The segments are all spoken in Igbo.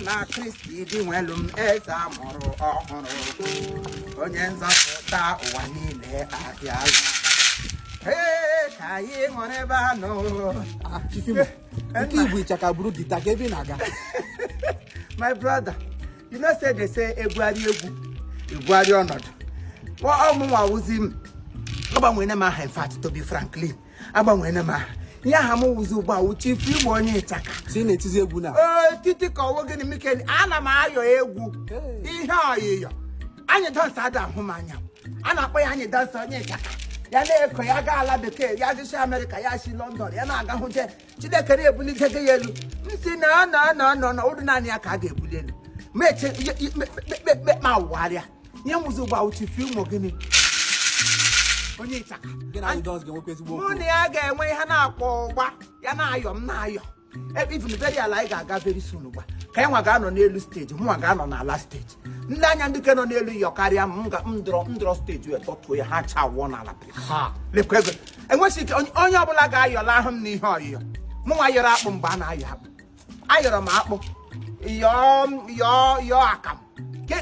na Kristi Dinwelu m eze a mụrụ ọhụrụ onye nzọpụta ụwa niile abịa ee ka anyị ṅụrụ ebe a nọ ah, nke igwe ịchaka buru gita ka ebe ị na-aga my brother you know say they say ebuarị egwu ebuarị ọnọdụ ọ mụnwa wụzi m agbanwere m aha in fact to be Franklin agbanwere m aha ihe aha m wụzi ugbu a wụ Chief Igbo onye ịchaka si na-etizi egwu na ee titi ka ọ wụ gịnị mikeli ana m ayọ egwu ihe ọyịyọ Anyidons ada ahụ m anya a na-akpọ ya Anyidons onye ịchaka ya na-eko ya gaa ala bekee ya si Amerịka ya si lọndọn ya na-aga hụ je chineke na-ebuli ike gị ya elu m si na anọ anọ anọ na ụdị naanị ya ka a ga-ebuli elu ma eche ihe- ihe- me- me- me- me- ma wụgharịa ihe m wụzi ugbu a wụ Chief Imo gịnị onye ịchaka Gị na Anyidons ga-enwekwa ezigbo mụ okwu. na ya ga-enwe ihe a na-akpọ ụgba ya na-ayọ m na-ayọ ebe even very ala anyị ga-aga very soon ụgba ka anyị nwa ga-anọ n'elu steji mụnwa ga-anọ n'ala steji ndị anya ndị ke nọ n'elu yọ karịa m m ga- m dọrọ m dọrọ steji wee tọtuo ya ha cha wụọ n'ala pụ enwesị ike onye ọbụla ga-ayọlahụ m n'ihe ọyịyọ mụ nwa yọrọ akpụ mgbe a na-ayọ akpụ ayọrọ m akpụ yọọ akamụ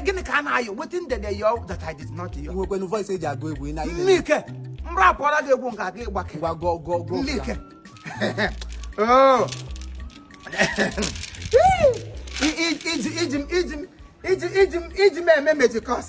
gịnị ka a na-ayọ wetin dem dey yọ that i did not yọ. nwekwenu voice e ji agụ egwu na ile. nnike m rapụọla gị egwu nke aga ịgbake. ngwa gụọ gụọ gụọ. nnike iji m eme mejikọs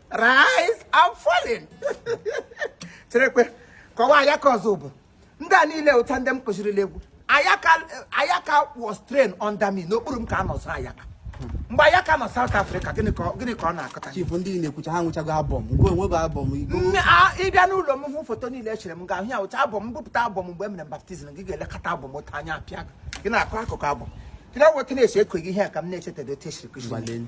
rise and falling cherekwe kọwa Ayaka Ozubulu ndị a niile wụcha ndị m kụzirila egwu ayaka ayaka was trained under me n'okpuru m ka a nọ zụọ ayaka mgbe ayaka nọ South Africa gịnị ka ọ- gịnị ka ọ na-akọta chifu ndị na-ekwucha ha nwechago album nke onwe bụ album igbo Nne, a- ịbịa n'ụlọ m hụ foto niile echere m ga-ahụ ya wụcha album m bupụta album mgbe m mere baptizim gị ga-elekọta album otu anya apịa gị gị na-akọ akụkọ album gị na-eweta na-esi ekweghị ihe a ka m na-echetara otu e siri kụziri m. gbalenu